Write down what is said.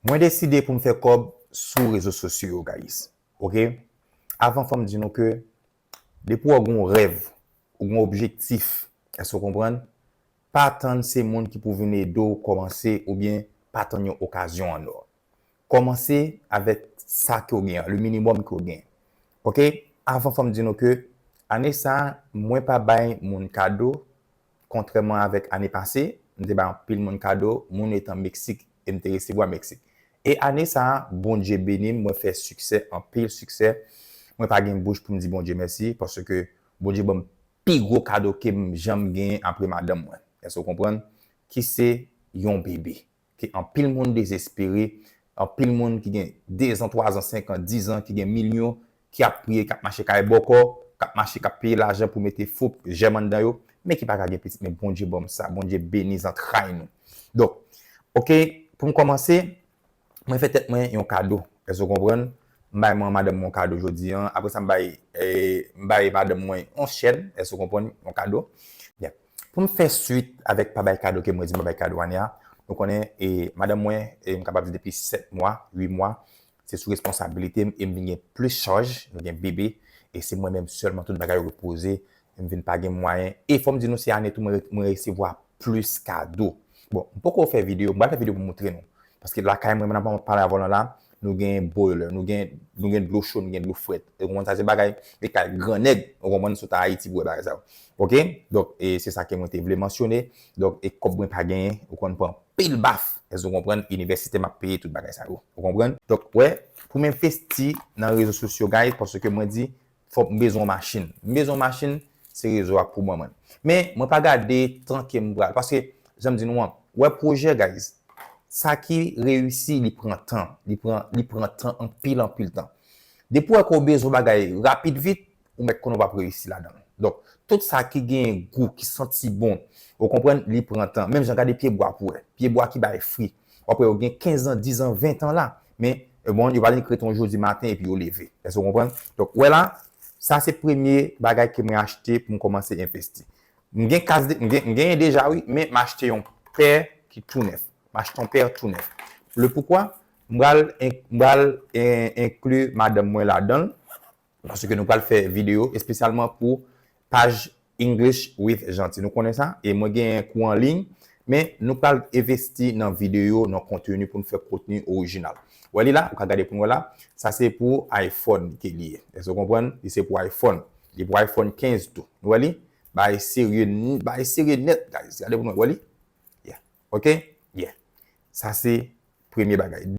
Mwen deside pou m fè kòb sou rezo sosyo yo guys ok avan fòm di nou ke depi wè w gen yon rèv ou gen yon objektif èske w konprann pa tann se moun ki pou vin ede w kòmanse oubyen pa tann yon okazyon an nò kòmanse avèk sa ke w gen an le minimum ke w gen ok avan fòm di nou ke ane sa mwen pa bay moun kado Kontrèman avèk ane pase, m te bay anpil moun kado, moun etan Meksik, e m te resevwa Meksik. E ane sa a, Bondye beni m, mwen fè siksè, anpil siksè. Mwen pa gen bouch pou m di Bondye mèsi, paske Bondye ban m pi gwo kado ke m janm genyen apre madanm mwen, èske w konprann? ki se yon bebe. ke anpil moun dezespere, anpil moun ki gen dezan, twazan, senkan, dizan, ki gen milyon, ki ap priye, k ap mache kay bòkò, k ap mache, k ap peye lajan pou mete fo jèm anndan yo, men ki pa ka gen pitit, men Bondye ban m sa, Bondye beni zantray nou. Donk, ok, pou m kòmanse, mwen fè tèt mwen yon kado, èske w konprann? M bay mwen an madanm mwen yon kado jodi an, apre sa m bay, m bay madanm mwen yon chèn, èske w konprann, yon kado. Byen, Pou m fè swit avèk pa bay kado ke mwen di m pa bay kado ane a, nou konnen e madanm mwen e m kapab di depi 7 mwa, 8 mwa, se sou responsabilite m e m vin gen plis chaj, nou gen bebe e se mwen menm sèlman tout bagay repoze, m vin pa gen mwayen e fò m di nou se ane tou mwen resevwa plis kado. Bon, m poko fè videyo, m pral fè videyo pou m moutre nou. Paske lakay mwen, pandan map pale avèw lan la, nou gen boiler, nou gen nou gen dlo cho, nou gen dlo frèt. Ou konprann sa se bagay e kay gran nèg, ou konprann, si w ta Ayiti pou wè bagay sa yo. Ok, donk e se sa ke mwen te vle mansyone. Donk e kòb mwen pa genyen, ou konn pran pil baf, èske w konprann, inivèsite map peye tout bagay sa yo. Ou konprann? Donk wè, pou m envesti nan rezo sosyo guys, paske mwen di Fok m bezwen yon machin. M bezwen yon machin, se rezo a k pou ban mwen. Men, mwen pa gade tan ke m pral. Paske, jan m di nou an, ou wè pwojè guys, sa ki reyisi li pran tan. Li pran, li pran tan anpil anpil tan. Depi ou wè ke ou bezwen yon bagay rapid vit, ou mèt konnen ou p ap reyisi ladan l. Donk, tout sa ki genyen gou, ki santi bon, ou konprann, li pran tan. Menm jan gade pyebwa pou wè. Pyebwa ki bay fri. Wap wè yo gen 15 ans, 10 ans, 20 ans la. Men bon yo pa vin krete yon jou di maten epi yo leve. Èske ou konprann? Donk wè la, sa se premye bagay ke mwen achte pou m kòmanse envesti. M gen kas de, m gen, m genyen deja wi, men m achte yon pè ki tou nèf. M achte yon pè tou nèf. Le poukwa? M pral, m pral enkli madanm mwen ladan l. Paske nou pral fè videyo espesyalman pou paj English with Jeanty. Nou konnen sa? E mwen genyen kou an liy. Men nou pral envesti nan videyo, nan konteni pou nou fè konteni orijinal. Ou wè li la? Ou ka gade pou nou wè la. Sa se pou iPhone ke li ye. Èske ou konprann? Li se pou iPhone. Li pou iPhone 15 tou. Nou wè li? Bagay serye, bagay serye nèt guys. Gade pou nou wè. Ou wè li? Yeah. Ok? Yeah. Sa se premye bagay.